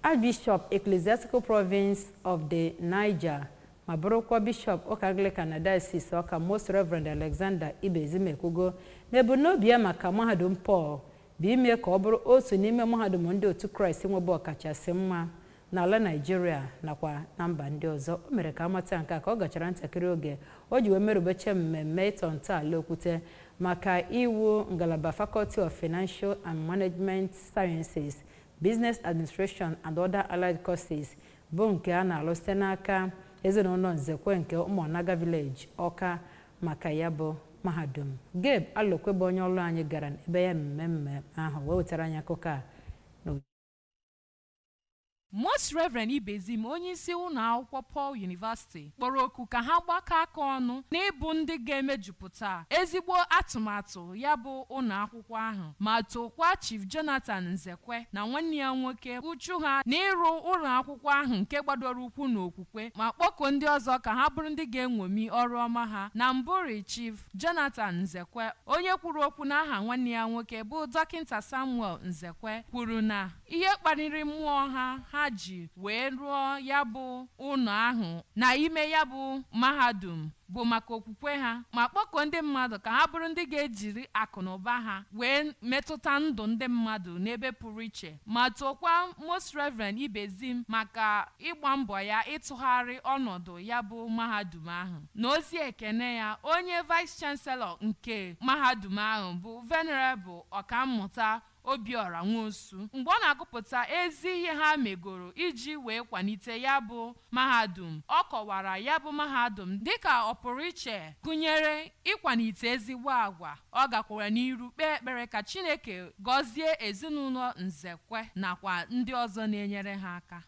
Archbishop Ecclesiastical Province of the Niger ma bụrụkwa Bishọp ụka Anglican na Diocese Ọka Most Reverend Alexander Ibezim ekwugo na ebumnobi ya maka mahadum Paul bụ ime ka ọ bụrụ otu n'ime mahadum ndị otu Kraịst nwebe ọkachasị mma n'ala Naịjirịa nakwa na mba ndị ọzọ o mere ka a mata nke a ka ọ gachara ntakịrị oge o ji wee merubeche mmemme ịtọ ntọala okwute maka iwu ngalaba Faculty of Financial and Management Sciences Business Administration and Other Allied Courses bụ nke a na-alụ site n'aka ezinụlọ Nzekwe nke Ụmụọnaga Village, Ọka maka ya bụ mahadum. Gabe Alokwe bụ onye ọrụ anyị gara n'ebe ya mmemme ahụ wee wetara anyị akụkọ a n'uju. Most Reverend Ibezim onyeisi ụlọ akwụkwọ Paul University kpọrọ oku ka ha gbakọ aka ọnụ n'ịbụ ndị ga-emejupụta ezigbo atụmatụ ya bụ ụlọ akwụkwọ ahụ ma tokwa Chief Jonathan Nzekwe na nwanne ya nwoke uchu ha n'ịrụ ụlọ akwụkwọ ahụ nke gbadoro ụkwụ n'okwukwe ma kpọkuo ndị ọzọ ka ha bụrụ ndị ga-enwomi ọrụ ọma ha na mbụrị Chief Jonathan Nzekwe onye kwuru okwu n'aha nwanne ya nwoke bụ dọkịta Samuel Nzekwe kwuru na ihe kpaliri mmụọ ha ha ji wee rụọ ya bụ ụlọ ahụ na ime ya bụ mahadum bụ maka okwukwe ha ma kpọkuo ndị mmadụ ka ha bụrụ ndị ga-ejiri akụ na ụba ha wee metụta ndụ ndị mmadụ n'ebe pụrụ iche ma tokwa Most Reverend Ibezim maka ịgba mbọ ya ịtụgharị ọnọdụ ya bụ mahadum ahụ na ozi ekene ya onye Vice Chancellor nke mahadum ahụ bụ Venerable Ọkammụta Obiọra Nwosu mgbe ọ na-agụpụta ezi ihe ha megoro iji wee kwalite ya bụ mahadum. Ọ kọwara ya bụ mahadum dịka ọpụrụiche gụnyere ịkwalite ezigbo agwa. Ọ gakwara n'iru kpee ekpere ka Chineke gọzie ezinụlọ Nzekwe nakwa ndị ọzọ na-enyere ha aka.